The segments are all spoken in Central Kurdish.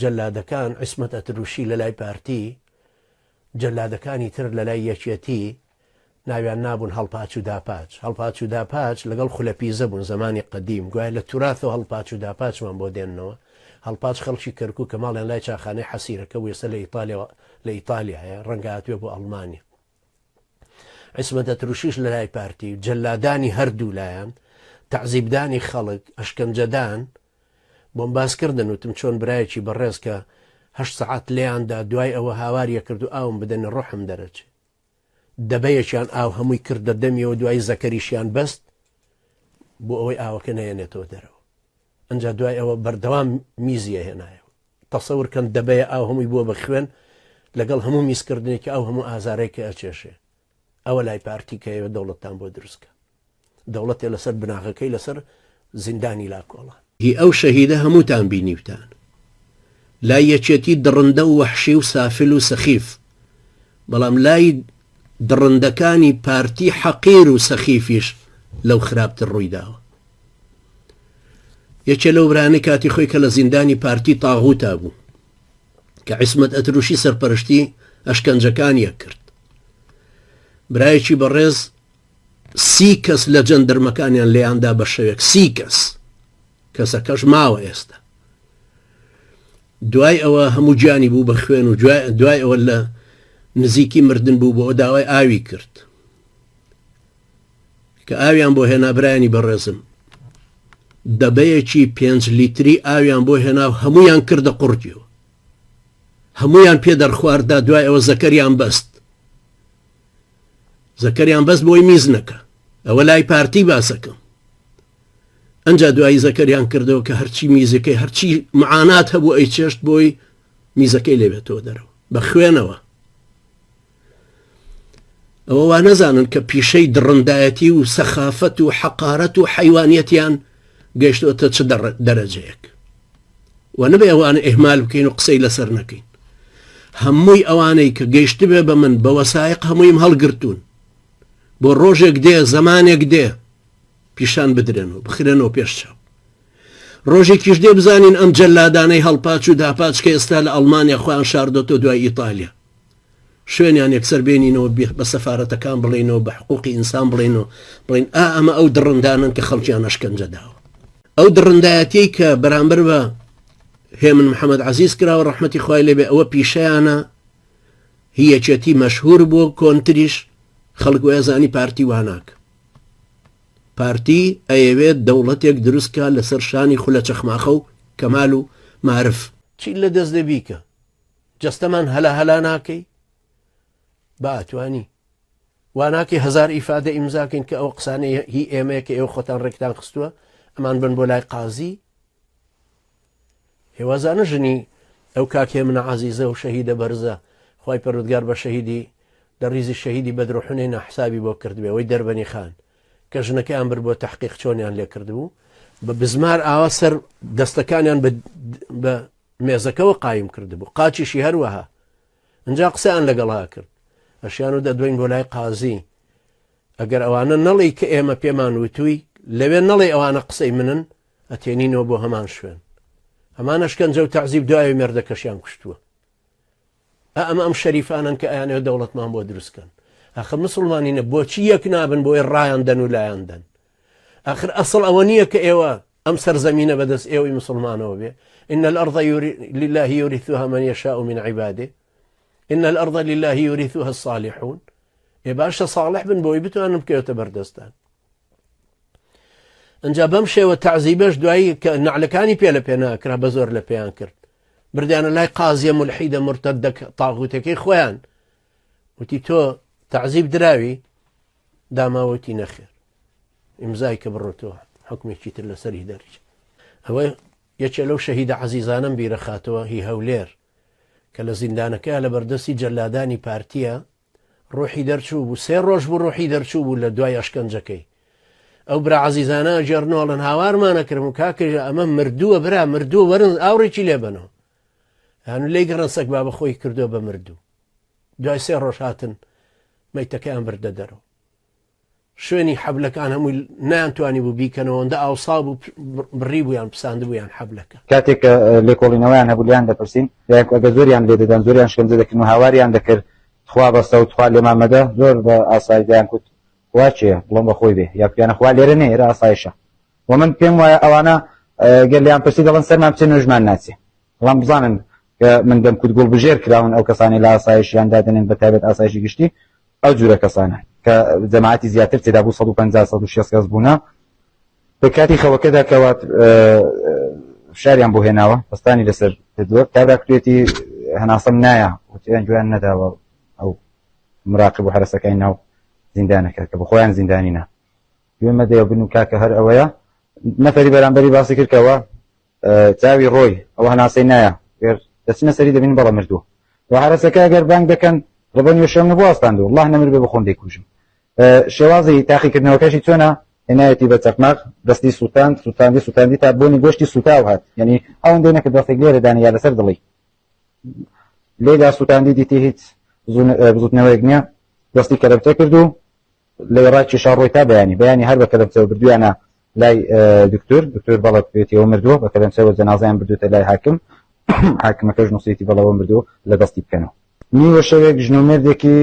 جەلادەکان عیسمەت ئەتروشی لەلای پارتی جەلادەکانی تر لەلای یەکێتی ناویان نابوون هەڵپاچ و داپاچ هەڵپاچ و داپاچ لەگەڵ خولە پیزە بوون زەمانی قەدیم گوایە لە توراثەوە هەڵپاچ و داپاچمان بۆ دێننەوە هەڵپاچ خەڵکی کەرکوکە ماڵیان لای چاخانەی حەسیرەکە بوو ئێستا لە ئیتالیاوە لە ئیتالیایە ڕەنگە هاتبێ بۆ ئەڵمانیا عیسمەت ئەتروشیش لەلای پارتی و جەلادانی هەردوو لایەن تەعزیبدانی خەڵک ئەشکەنجەدان بۆم باس کردن وتم چۆن برایەکی بەڕێز کە هە سعات لێیاندا دوای ئەوە هاواریە کرد و ئاوم بدەنی ڕحم دەرەچێ دەبەیەکیان ئاو هەمووی کردە دەمیەوە دوای زەکەریشیان بەست بۆ ئەوەی ئاوەکە نەیەنێتەوە دەرەوە ئەنجا دوای ئەوە بەردەوام میزیە هێنایەوە تەسەور کەن دەبەیە ئاو هەمووی بووە بە خوێن لەگەڵ هەموو میزکردنێکی ئەو هەموو ئازارەی کە ئەچێشێ ئەوە لای پارتی کە ئێوە دەوڵەتان بۆ دروستکە دەوڵەتێ لەسەر بناغەکەی لەسەر زیندانی لاکۆڵان هی ئەو شەهیدە هەمووتان بینیوتان لای یەکێتی دڕندە و وەحشی و سافل و سەخیف بەڵام لای دڕندەکانی پارتی حەقیر و سەخیفیش لەو خراپتر ڕوویداوە یەکێ لەو برانەی کاتی خۆی کە لە زیندانی پارتی تاغوتا بوو کە عیسمەت ئەتروشی سەرپەرشتی ئەشکەنجەکانیە کرد برایەکی بەڕێز سی کەس لە جەندرمەکانیان لێیاندا بە شەوێک سی کەس کەسەکەش ماوە ئێستا دوای ئەوە هەموو گیانی بوو بە خوێن و دوای ئەوە لە نزیکی مردن بوو بۆ داوای ئاوی کرد کە ئاویان بۆ هێنا برایانی بەڕێزم دەبەیەکی پێنج لیتری ئاویان بۆ هێنا و هەمویان کردە قڕتیەوە هەمویان پێ دەرخواردا دوای ئەوە زەکەریان بەست زەکەریان بەس بۆی میز نەکە ئەوە لای پارتی باسەکەم ئەجا دوایی زەکەریان کردەوە کە هەرچی میزەکەی هەرچی معانات هەبوو ئەی چێشت بۆی میزەکەی لێبێتەوە دەرەوە بە خوێنەوە ئەوە وا نەزانن کە پیشەی دڕندایەتی و سەخافەت و حەقارەت و حیوانیەتیان گەشتۆتە چ دەرەجەیەک و نەبێ ئەوان ئەهمال بکەین و قسەی لەسەر نەکەین هەمووی ئەوانەی کە گەشتبێ بە من بە وەسایق هەموویم هەڵگرتوون بۆ ڕۆژێک دێ زەمانێک دێ پیشان بدرێن و بخرێنەوە پێش چاو ڕۆژێکیش دێ بزانین ئەم جەلادانەی هەڵپاچ و داپاچکە ئێستا لە ئەڵمانیا خۆیان شاردۆتە دوای ئیتالیا شوێنیان یەکسەر بێنینەوە بە سەفارەتەکان بڵێنەوە بە حقوقی ئینسان بڵێنەوە بڵین ئا ئەمە ئەو دڕندانن کە خەڵکیان ئەشکەنجە داوە ئەو دڕندایەتی کە بەرامبەر بە هێمن محەممەد عزیز کراوە ڕحمەتی خخوای لێبێ ئەوە پیشیانە هیەچێتی مەشهور بۆ کۆنتریش خەڵک وێزانی پارتی واناک پارتی ئەیەوێت دەوڵەتێک دروستکە لەسەر شانی خولە چەخماخە و کەمال و معرف چی لە دەست دەبیکە جەستەمان هەلا هەلا ناکەی با ئەتوانی واناکەی هزار ئیفادە ئیمزاکەین کە ئەو قسانەی هی ئێمەیە کە ئێوە خۆتان ڕێکتان خستووە ئەمان بن بۆ لای قازی هێوازانە ژنی ئەو کاکێ منە عزیزە و شەهیدە بەرزە خی پەرودگار بە شەهیدی لە ڕیزی شەهیدی بەدرۆحنەی نەحسابی بۆ کردبێ ئەوەی دەربەنی خان کە ژنەکەیان بر بۆ تحقیق چۆنیان لێ کردبوو بە بزمار ئاوا سەر دەستەکانیان بە مێزەکەوە قایم کردبوو قاچیشی هەروەها ئنجا قسەیان لەگەڵا کرد ئەشیان و دەدوین بۆ لای قازی ئەگەر ئەوانە نەڵی کە ئێمە پێمان وتووی لەوێ نەڵێ ئەوانە قسەی منن ئەتێنینەوە بۆ هەمان شوێن هەمان ئەشکەنجە و تەعزیب دوای مێردەکەشیان کوشتووە ئا ئەمە ئەم شەریفانەن کە ئەیانەوێت دەوڵەتمان بۆ دروست کەن ئاخر مسلمانینە بۆچی یەک نابن بۆی ڕایان دەن و لایان دەن ئاخر ئەسڵ ئەوە نییە کە ئێوە ئەم سەرزەمینە بەدەست ئێوەی مسلمانەوە بێ إن الأرض يوري لله يورثها من يشاء من عباده إن الأرض لله يورثها الصالحون ئێ باشە صالح بن بۆی بتوانن بکەوێتە بەردەستان ئەجا بەم شێوە تەعزیبەش دوایی کە نعلەکانی پێ لە پێ ناکرا بە زۆر لە پێیان کرد بردیانە لای قازیە ملحیدە مرتە دەک تاغوتەکەی خۆیان وتی تۆ تەعزیب دراوی داماوەتی نەخێر ئیمزای کە بڕۆتەوە حکومێکی تر لەسەری دەرچ ئەوە یەکێ لەو شەهیدە عزیزانم بیرە خاتەوە هی هەولێر کە لە زیندانەکە لە بەردەستی جەلادانی پارتیە ڕوحی دەرچوو بوو سێ ڕۆژ بوو ڕوحی دەرچوو بوو لە دوای ئەشکەنجەکەی ئەو برا عزیزانە جێرنۆڵن هاوارمانەکرم و کاکەژە ئەمە مردووە برا مردوو وەرن ئاوڕێکی لێبنەوە هەنوو لی گەڕن سەک بابە خۆی کردو بە مردوو دوای سێ ڕۆژ هاتن مەیتەکەیان بردە دەرەوە شوێنی حەبلەکان هەمووی نانتوانیبوو بیکەنەوە ئەوەندە ئاوسا بوو بڕیبوویان پساندبوویان حەبلەکە کاتێک کە لێکۆڵینەوەیان هەبوو لیان دەپرسین دایک ئەگە زۆریان لێ دەدان زۆریان شکەنجە دەکردن و هاواریان دەکرد تخوا بەسە و تخوا لێمان مەدە زۆر بە ئاسایی دەیان کوت خوا چیە بڵۆم بە خۆی بێ یا کوتیانە خوا لێرە نێ ئێرە ئاسایشە و من پێم وایە ئەوانە گەر لیان پرسی دەڵێن سەرمان بچێ نوێژمان ناچێ بەڵام بزانن کە من دەم کوت گوڵبژێر کراون ئەو کەسانەی لە ئاسایشیان دادەنێن بە تایبەت ئاسایشی گشتی ئەو جورە کەسانە کە جەماعەتی زیاتر تێدا بوو 150 کەس بوونە لە کاتی خەوەکەدا کەوات فشاریان بۆ هێناوە پستانی لەسەر کردووە کابرا کوێتی هەناسەم نایە وتیان گویان نەداوە ئەو مراقب و حرەسەکەی ناو زیندانەکە کە بە خۆیان زیندانی نا گوێمە دەیە بن و کاکە هەر ئەوەیە نەفری بەرامبەری باسی کردکەوە چاوی ڕۆی ئەو هەناسەی نایە گەر دەچنە سەری دەبین بەڵە مردووە و عرسەکە گەر بانگ دەکەن ڕبە نوێ شەم نەبوو ئاستاندو الله نەمر بێ بخۆم دەیکوژم شێوازی تاقیکردنەوەکەشی چۆنە هێنایەتی بە چەقماق دەستی سووتان سووتاندی سووتاندی تا بۆنی گۆشتی سوتاو هات یعنی ئەوەندەی نەکرد دەستێک لێرەدانی یا لەسەر دڵی لێدا سووتاندی دیتی هیچ بزوتنەوەیەک نییە دەستی کەرەبتە کرد و لە ڕای کێشا ڕۆی تا بەیانی بەیانی هەر بە کەرەبتەوە بردویانە لای دکتۆر دکتۆر بەڵێ بکرێتیەوە مردووە بە کەلەنچەوە جەنازەیان بردووتە لای حاکم حاکمەکەش نووسیتی بەڵەوە مردوو لە دەستی بکەنەوە نیوە شەوێک ژن و مێردێکی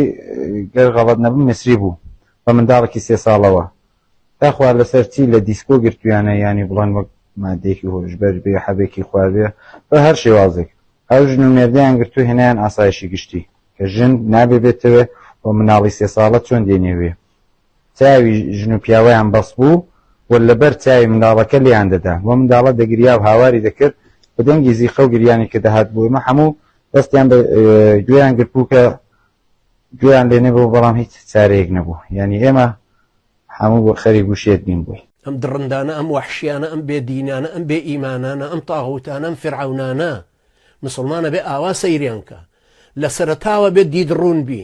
گەر غەڵەت نەبم میسری بوو بە منداڵێکی سێ ساڵەوە تا خوار لەسەر چی لە دیسکۆ گرتویانە یانی بڵێن وەک مادێکی هۆشبەر بێ حەبێکی خواردێ بە هەر شێوازێک ئەو ژن و مێردیان گرتو هێنیان ئاسایشی گشتی کە ژن نابێ بێتەوێ و مناڵی سێ ساڵە چۆن دێنێوێ چاوی ژن و پیاوەیان بەس بوو و لەبەر چاوی منداڵەکە لێیان دەدا و منداڵە دەگریا و هاواری دەکرد بە دەنگی زیقە و گریانی کە دەهات بۆ ئێمە هەموو دەستیان بە گوێیان گرت بوو کە گوێیان لێ نەبوو بەڵام هیچ چارەیەک نەبوو یعنی ئێمە هەموو بۆ خەری گوشێت بین بووی ئەم دڕندانە ئەم وەحشیانە ئەم بێ دینانە ئەم بێ ئیمانانە ئەم تاغوتانە ئەم فرعونانە مسلمانە بێ ئاوا سەیریان کە لە سەرتاوە بێ دید ڕوون بی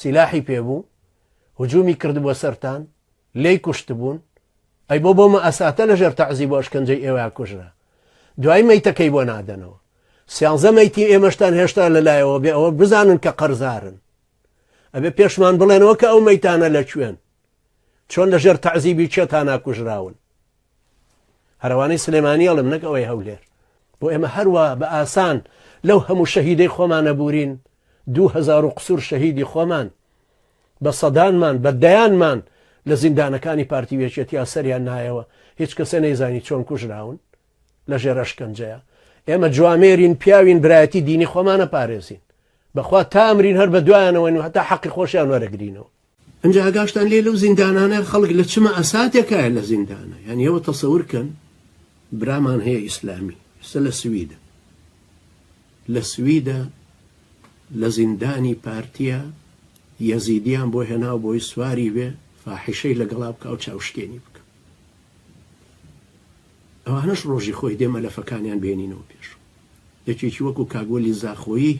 سیلاحی پێ بوو هجومی کردبووە سەرتان لێی کوشتبوون ئەی بۆ بۆ مەئەساتە لە ژێر تەعزی بۆ ئەشکەنجەی ئێوە کوژرا دوای مەیتەکەی بۆ نادەنەوە سیانزە مەیتی ئێمەشتان هێشتا لەلایەوە بێ ئەوە بزانن کە قەرزارن ئەبێ پێشمان بڵێنەوە کە ئەو مەیتانە لە کوێن چۆن لە ژێر تەعزیبی چێتانا کوژراون هەرەوانەی سلێمانی ئەڵم نەک ئەوەی هەولێر بۆ ئێمە هەروە بە ئاسان لەو هەموو شەهیدەی خۆمانە بورین دوهزار و قسوور شەهیدی خۆمان بە سەدانمان بە دەیانمان لە زیندانەکانی پارتی وێچێتیا سەریان نایەوە هیچ کەسێ نەیزانی چۆن کوژراون لە ژێرەشکەنجەیە ئێمە جوامێرین پیاوین برایەتی دینی خۆمانە پارێزین بەخوا تامرین هەر بە دوایانەوەین و هەتا حەقی خۆشیان وەرەگرینەوە ئەنجا ئاگاشتان لێ لەو زیندانانە خەڵک لە چ مەئەساتێکایە لە زیندانە یان ئێوە تەسەور کەن برامان هەیە ئیسلامی ئێستا لە سویدە لە سویدە لە زیندانی پارتیە یەزیدیان بۆ هێناو بۆی سواری بێ فاحیشەی لەگەڵا بکە و چاوشکێنی بکە ئەوانش ڕۆژی خۆی دێ مەلەفەکانیان بێنینەوە پێش یەکێکی وەکو کاگوەلی زاخۆیی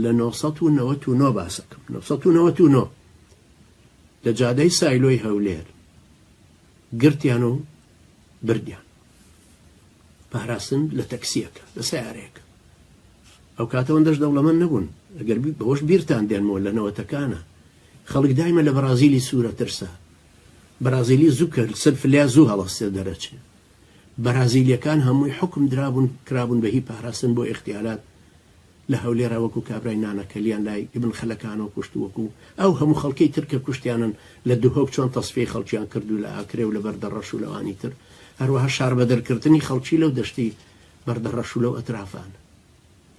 لە نۆ سەد و نەوەت و نۆ باس ئەکەم نۆ سەد و نەوەت و نۆ لە جادەی سایلۆی هەولێر گرتیان و بردیان پاراستن لە تەکسیەکە لە سیارەیەکە ئەو کاتەوەن دەش دەوڵەمەند نەبوون ئەگەر بەوەش بیرتان دێنمەوە لە نەوەتەکانە خەڵک دایمە لە بەرازیلی سوورە ترسا بەرازیلی زوو کرد سەر فلیا زوو هەڵەستێ دەرەچێ بەرازیلیەکان هەمووی حکم درابوون کرابوون بە هی پاراستن بۆ ئختیارات لە هەولێرا وەکو کابرای نانەکەلیان لای ئیبن خەلەکانەوە کوشت و وەکو ئەو هەموو خەڵکەی تر کە کوشتیانن لە دهۆک چۆن تەسفیەی خەڵکیان کرد و لە ئاکرێ و لە بەردەڕەش و لەوانی تر هەروەها شاربەدەرکردنی خەڵکی لەو دەشتی بەردەڕەش و لەو ئەترافان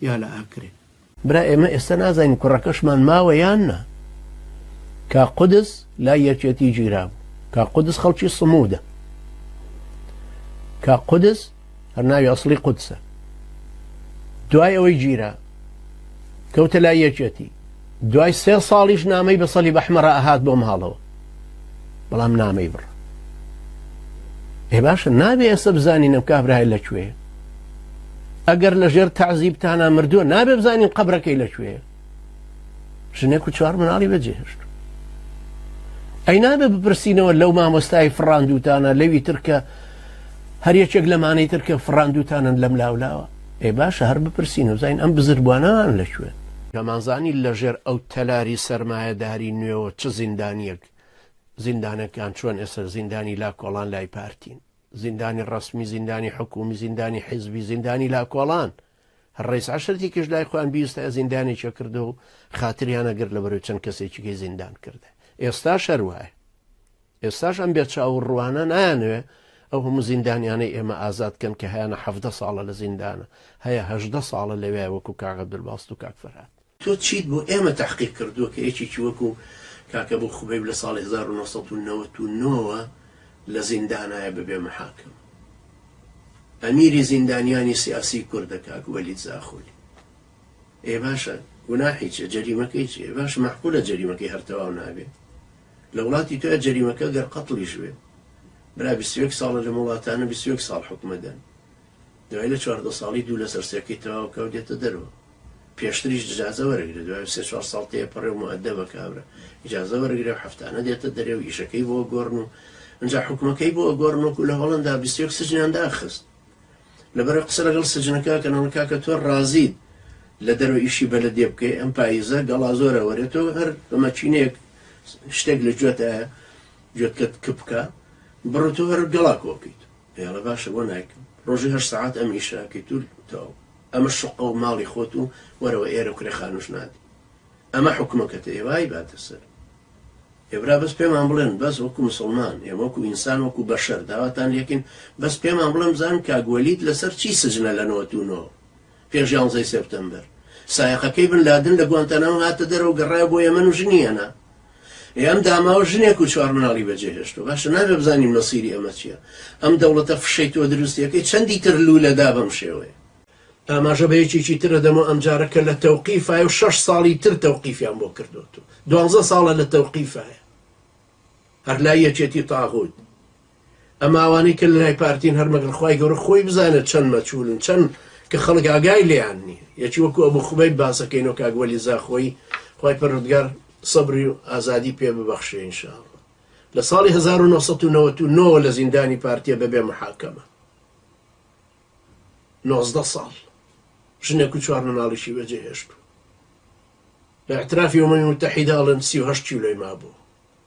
یا لە ئاکرێ. برا ئێمە ئێستا نازانین کوڕەکەشمان ماوە یان نا. کاک قودس لای یەکێتی گیرابوو. کاک قودس خەڵکی سموودە. کاک قودس هەر ناوی ئەسڵی قودسە دوای ئەوەی گیرا کەوتە لای یەکێتی دوای سێ ساڵیش نامەی بە سەلی بەحمەرە ئەهات بۆ ماڵەوە بەڵام نامەی بڕ ئێ باشە نابێ ئێستا بزانین ئەم کابرای لەکوێ ئەگەر لەژێر تعزیبتانە مردووە نابێ بزانین قبرەکەی لەکوێ ژنێک و چوار مناڵی بەجێهێشت ئەی نابێ بپرسینەوە لەو مامۆستای فڕاندوتانە لەوی ترکە هەر یەکێک لەمانەی ترکە فڕاندوتانن لەم لاولاوە ئێ باشە هەر بپرسین و زین ئەم بزربوانان لە شوێن نەمانزانی لە ژێر ئەو تەلاری سەرمایەداری نوێەوە چ زیندانیەک زیندانەکان چۆن ئێستا زیندانی لا کۆڵان لای پارتین زیندانی ڕسمی زیندانی حکومی زیندانی حیزبی زیندانی لا کۆڵان ڕەیس عەشرەتی کش لای خۆیان بیستایە زیندانێکی کردو و خاتریان ئەگرت لەبەرەوەی چەند کەسێکیکەی زیندان کرد ئێستاش هەر وایە ئێستاش ئەم بێ چاو و ڕوانە نایانەوێ ئەو هەموو زیندانیانەی ئێمە ئازاد کەن کە هەیانە حەڤدە ساڵە لە زیندانە هەیە هەژدە ساڵە لەوێ وەکو کاک عەبدولباست و کاک فەرهاد تۆ چیت بۆ ئێمە تەحقیق کردووە کە یەکێکی وەکو کاک ئەبو خوبەیب لە ساڵی هەزار و نۆ سەد و نەوەد و نۆ وە لە زیندانایە بەبێ مەحاکم؟ ئەمیری زیندانیانی سیاسی کوردە کاک وەلید زاخۆلی. ئێ باشە گوناحی چیە؟ جەریمەکەی چیە؟ باش مەحقولە جەریمەکەی هەر تەواو نابێت. لە وڵاتی تۆ جەریمەکە گەر قەتڵیش بێت. برا بیست و یەک ساڵە لەم وڵاتانە بیست و یەک ساڵ حکومە دەن. دوای لە چواردە ساڵی دوو لەسەر سێکەی تەواو کە و دێتە دەرەوە. پێشتریش ئیجازە وەرەگرێ دوای سێ چوار ساڵ تێپەڕێ و موئەدەبە کابرا ئیجازە وەرەگرێ و هەفتانە دێتە دەرێ و ئیشەکەی بۆ ئەگۆڕن و ئەنجا حوکمەکەی بۆ ئەگۆڕن وەکو لە هۆڵەندا بیست و یەک سجنیان داخست لەبەرەو قسە لەگەڵ سجنەکە کەن ئەڵێ کاکە تۆ ڕازیت لە دەرەوە ئیشی بەلەدێ بکەی ئەم پاییزە گەڵا زۆرە وەرێ تۆ هەر بە مەکینەیەک شتێک لە گوێتایە گوێتکەت کپ بکە بڕۆ تۆ هەر گەڵا کۆ بکەیت پێڵە باشە بۆ نایکەم. ڕۆژی هەشت سەعات ئەم ئیشە ئەکەیت و تەواو. ئەمە شوققە و ماڵی خۆت و وەرەوە ئێرە و کرێ خانووش نادەی. ئەمە حوکمەکەتە ئێوە ئەیباتە سەر. ئێ برا بەس پێمان بڵێن بەس وەکو مسوڵمان ئێمە وەکو ئینسان وەکو بەشەر داواتان لێکەین بەس پێمان بڵێن بزانن کاک وەلید لەسەر چی سجنە لە نۆەتو نۆ؟ پێش یانزەی سێپتەمبەر سایەقەکەی بن لادن لە گوانتانامۆ هاتە دەرەوە و گەڕایەوە بۆ یەمەن و ژنی هێنا. ئێم داماوە ژنێک و چوار مناڵی بەجێهێشتووە. باشە نابێ بزانین مەسیری ئەمە چییە؟ ئەم دەوڵەتە فشەی تۆ دروستییەکەی چەندی تر لوولە دا بەم شێوەیە؟ ئاماژە بە یەکێکی ترە دەمۆ ئەمجارە کە لە تەوقیفایە و شەش ساڵی تر تەوقیفیان بۆ کردۆتەوە. دوانزە ساڵە لە تەوقیفایە. هەر لای یەکێتی تاغووت. ئەم ئاوانەی کە لەلای پارتین هەر مەگەر خوای گەورە خۆی بزانێت چەند مەچولن چەند کە خەڵک ئاگای لێیان نیە یەکی وەکو ئەبو خوبەیب باسەکەینەوە کاک وەلی زاخۆیی خوای پەروەردگار سەبری و ئازادی پێ ببەخشێ ان شاء اللە لە ساڵی هەزار و نۆ سەد و نەوەد و نۆ لە زیندانی پارتیە بەبێ محاکەمە نۆزدە ساڵ ژنێک و چوار مناڵیشی بەجێ هێشت بە اعترافی ئەمەی متحیداڵن سی و هەشت کیلۆی مابوو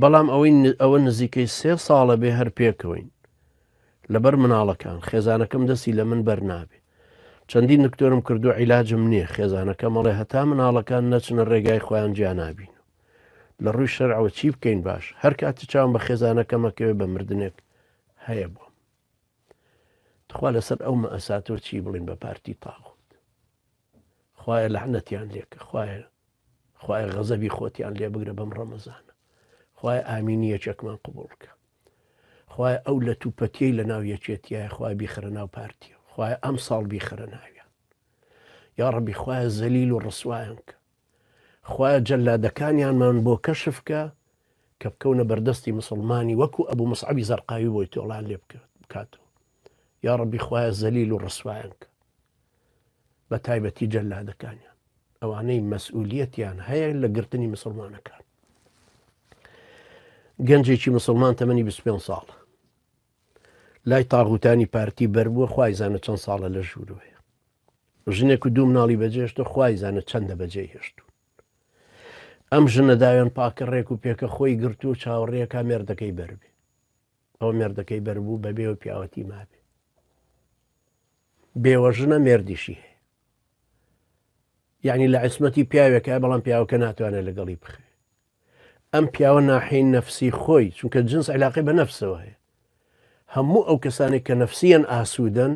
بەڵام ئەوەی ئەوە نزیکەی سێ ساڵە بێ هەر پێکەوەین لەبەر مناڵەکان خێزانەکەم دەستی لە من بەرنابێ چەندی نکتۆرم کردو عیلاجم نییە خێزانەکە مەڵێ هەتا مناڵەکان نەچنە ڕێگای خۆیان جیانابین و لە ڕووی شەرعەوە چی بکەین باش هەر کاتی چاوم بە خێزانەکەمەکەوێ بە مردنێک هەیە بۆم تخوا لەسەر ئەو مەئەساتەوە چی بڵین بە پارتی تاغوت خوایە لەعنەتیان لێکە خوایە خوایە غەزەبی خۆتیان لێ بگرە بەم ڕەمەزانە خوای ئامینی یەکێکمان قوبولکە خوای ئەو لە توپەتیەی لە ناو یەکێتیە خوای بیخرە ناو پارتیە خوای ئەم ساڵ بیخرە ناویان یا ڕبی خوای زەلیل و ڕسوایان کە خوایە جەلادەکانیانمان بۆ کەشف کە کە بکەونە بەردەستی مسوڵمانی وەکو ئەبو مصعبی زەرقاوی بۆی تۆڵان لێ بکاتەوە یاڕەبی خوایە زەلیل و ڕسوایان کە بە تایبەتی جەلادەکانیان ئەوانەی مەسئولیەتیان هەیە لە گرتنی مسلمانەکان گەنجێکی مسلمان تەمەنی 25 ساڵ لای تاغوتانی پارتی بەر بووە خوای زانە چەند ساڵە لە ژوورو هەیە ژنێک و دوو مناڵی بەجێشتە خوای زانە چەندە بەجێ هێشتون ئەم ژنە داوێن پاکە ڕێک و پێکە خۆی گرتو و چاوەڕێەکە مێردەکەی بەربێ ئەو مێردەکەی بەربوو بەبێ و پیاوەتی مابێ بێوە ژنە مێردیشی هەیە یعنی لە عسمەتی پیاوێکە بەڵام پیاوەکە ناتوانێت لەگەڵی بخێ ئەم پیاوە ناحیەی نەفسی خۆی چونکە جنس علاقی بە نەفسەوە هەیە هەموو ئەو کەسانێک کە نەفسیان ئاسوودەن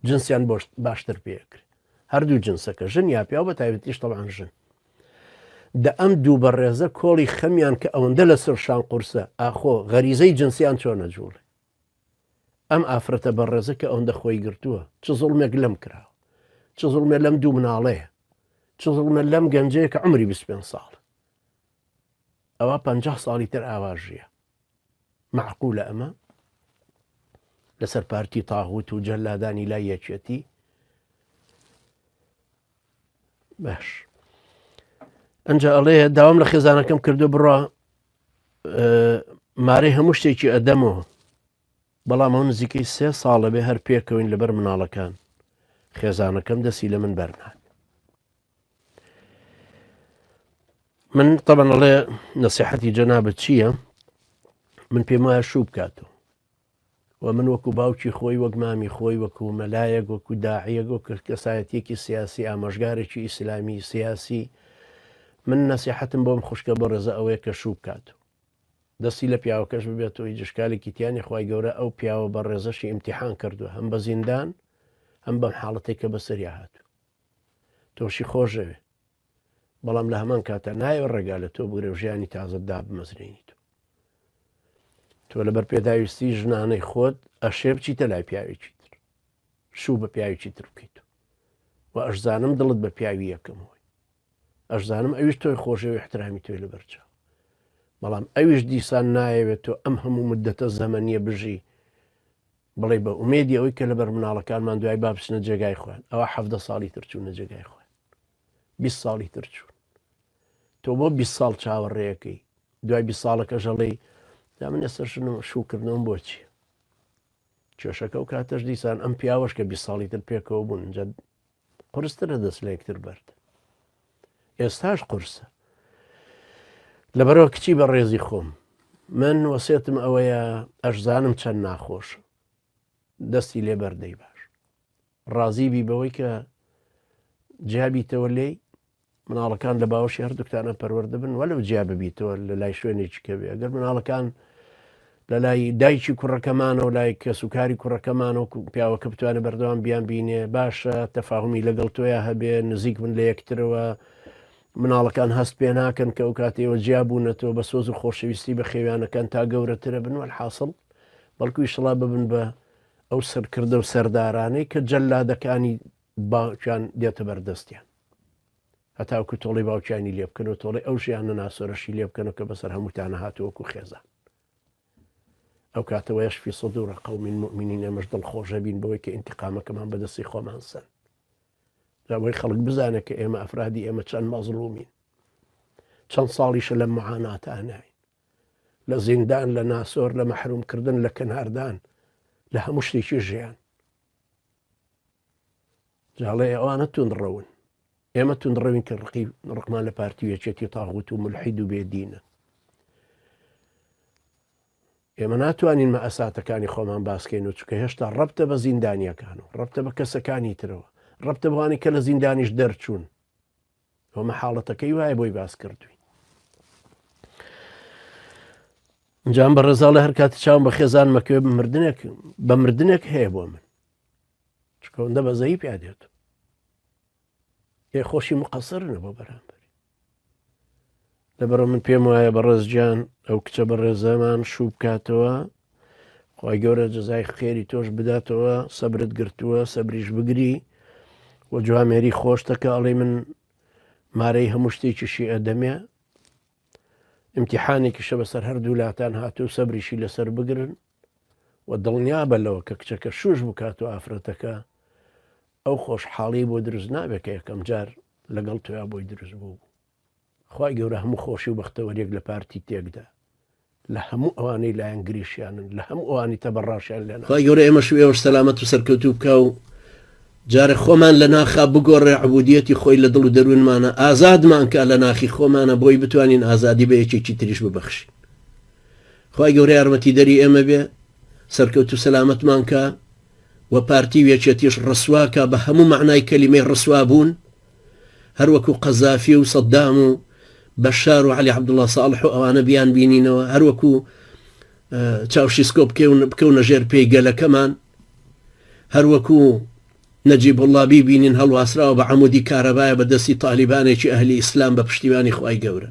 جنسیان بۆشت باشتر پێکرێت هەردوو جنسەکە ژن یا پیا بە تایبەتیش تەوان ژن دە ئەم دوو بە ڕێزە کۆڵی خەمیان کە ئەوەندە لە سەر شان قورسە ئاخۆ غەریزەی جنسیان چۆنە جوڵێ ئەم ئافرەتە بەڕێزە کە ئەوەندە خۆی گرتووە چ زوڵمێک لەم کراوە چ زوڵمێ لەم دوو مناڵەیە چ زوڵمە لەم گەنجەیە کە عمری 25 ساڵ ئەوە پ ساڵی تر ئاواژە معقولە ئەمە لەسەر پارتی تاغوت و جەلادانی لای یەکێتی باش ئەجا ئەڵێ داوام لە خێزانەکەم کردو بڕە مارەی هەموو شتێکی ئەدەمەوە بەڵام ئەو نزیکەی سێ ساڵە بێ هەر پێکەوەین لەبەر مناڵەکان خێزانەکەم دەستی لە من بەرنات من طبعاڵێ نسیحەتی جەنابەت چییە من پێم وایە شوو بکاتەوە و من وەکو باوکی خۆی، وەک مامی خۆی، وەکو مەلایەک، وەکو داعیەک، وەکو کەسایەتیەکی سیاسی، ئامۆژگارێکی ئیسلامی سیاسی، من نەسیحەتم بۆم خوشکە بە ڕێزە ئەوەیە کە شوو بکات و دەستی لە پیاوەکەش ببێت و هیچ ئشکالێکی تیا نیە، خوای گەورە ئەو پیاوە بە ڕێزەشی ئیمتیحان کردوە هەم بە زیندان هەم بەم حاڵەتەی کە بەسەریا هاتوە. تۆشی خۆشدەوێ بەڵام لە هەمان کاتا نایەوێ ڕێگا لە تۆ بگرێ و ژیانی تازەت دابمەزرێنیت و تۆ لەبەر پێداویستی ژنانەی خۆت ئەشێ بچیتە لای پیاوێکی تر شوو بە پیاوێکی تر بکەیت و ئەشزانم دڵت بە پیاوی یەکەم هۆی ئەشزانم ئەویش تۆی خۆشەوە احترامی تۆی لەبەرچە بەڵام ئەویش دیسان نایەوێت تۆ ئەم هەموو مدەتە زەمەنیە بژی بڵێ بە ئومێدی ئەوەی کە لەبەر مناڵەکانمان دوای بابچنە جێگای خوێن ئەوە حەفدە ساڵی ترچوونە جێگای خوێن بیست ساڵی تر چوون تۆ بۆ بیست ساڵ چاوەڕێەکەی دوای بیست ساڵەکەش هەڵێی دا من ئێستا شنم شوکردنەوەم بۆچی کێشەکە و کاتەش دیسان ئەم پیاوەش کە بیست ساڵی تر پێکەوە بوون جە قرسترە دەست لە یەکتر بەرد ئێستاش قرسە لەبەرەوە کچی بە ڕێزی خۆم من وەسێتم ئەوەیە ئەشزانم چەند ناخۆش دەستی لێ بەر دەی باش ڕازی بی بەوەی کە جیابیتەوە لێی مناڵەکان لە باوەشی هەردووکتانە پەروەردەبن وە لەو جیا ببیتەوە لە لای شوێنێکی کەوێ ئەگەر مناڵەکان لە لای دایکی کوڕەکەمانەوە لای کەس و کاری کوڕەکەمانەوە پیاوەکە بتوانێت بەردەوام بیان بینێ باشە تەفاهمی لەگەڵ تۆیا هەبێ نزیک من لە یەکترەوە مناڵەکان هەست پێ ناکەن کە ئەو کاتەوە جیابوونەتەوە بە سۆز و خۆشەویستی بە خێویانەکان تا گەورەترە بنوە حاصل بەڵکو ئیشەڵا ببن بە ئەو سەرکردە و سەردارانەی کە جەلادەکانی باوکیان دێتە بەردەستیان هەتاوکو تۆڵی باوکیانی لێ بکەن و تۆڵی ئەو ژیانە ناسۆرەشی لێ بکەن و کە بەسەر هەمووتانە هاتووەکو خێزان ئەو کاتەوە یشفی سەد و ڕقە و من مؤمنین ئەمەش دڵخۆشە بین بەوەی کە ئینتقامەکەمان بەدەستی خۆمان سەن لەوەی خەڵک بزانە کە ئێمە ئەفرادی ئێمە چەند مەزلومین چەند ساڵیشە لە معاناتانای لە زیندان لە ناسۆر لە مەحروم کردن لە کەناردان لە هەموو شتێکی ژیان جاڵێ ئەوانە توند ڕەون ئێمە توند ڕەوین کە ڕقی ڕقمان لە پارتی یەکێتی تاغوت و ملحید و بێدینە ئێمە ناتوانین مە ئەساتەکانی خۆمان باسکەین و چکە هێشتا ڕەبتە بە زیندانیەکان و ڕەبتە بە کەسەکانی ترەوە ڕەبتە بوانی کە لە زیندانیش دەرچوون ئەمە حاڵەتەکەی وایە بۆی باس کردوین جام بە ڕێزا لە هەر کاتی چاوم بە خێزان مەکوێ مردنێک بە مردنێک هەیە بۆ من چکەوەندە بەزەی پیا دێت هێ خۆشی مقەسەرنە بۆ بەرامبەر لەبەرئ من پێم وایە بەڕێز گیان ئەو کچە بەڕێزەمان شوو بکاتەوە خی گەورە جەزای خێری تۆش بداتەوە سەبرت گرتووە سەبریش بگری وە جوامێری خۆشتەکە ئەڵێ من مارەی هەموو شتێکیشی ئەدەمێ امتحانێکیشە بەسەر هەردوو لاتان هاتوو سەبریشی لەسەر بگرن و دڵنیا بە لەوە کە کچەکە شوش بکات و ئافرەتەکە ئەو خۆشحاڵی بۆ دروست نابێت کە یەکەم جار لەگەڵ تویا بۆی دروست بوو خوای گەورە هەموو خۆشی و بەختەوەریەک لە پارتی تێکدا لە هەموو ئەوانەی لایەنگریشیانن لە هەموو ئەوانی تەبەڕاشیان لێ ناکا. خوای گەورە ئێمەش و ئێوەش سەلامەت و سەرکەوتوو بکا و جارێ خۆمان لە ناخا بگۆڕێ عبودیەتی خۆی لە دڵ و دەروونمانە ئازادمان کا لە ناخی خۆمانە بۆی بتوانین ئازادی بە یەکێکی تریش ببەخشین خوای گەورە یارمەتیدەری ئێمە بێ سەرکەوت و سەلامەتمان کا و پارتی و یەکێتیش ڕسوا کا بە هەموو مەعنای کەلیمەی ڕسوا بوون هەر وەکو قەزافی و سەدام و بەشار و عەلی عەبدوڵا ساڵح و ئەوانە بیان بینینەوە هەر وەکو چاوشیسکۆ بکەون بکەونە ژێر پێی گەلەکەمان هەر وەکو نەجیب الله بیبینین هەڵواسراوە بە عمودی کارەبایە بە دەستی تالیبانێکی ئەهلی ئیسلام بە پشتیوانی خی گەورە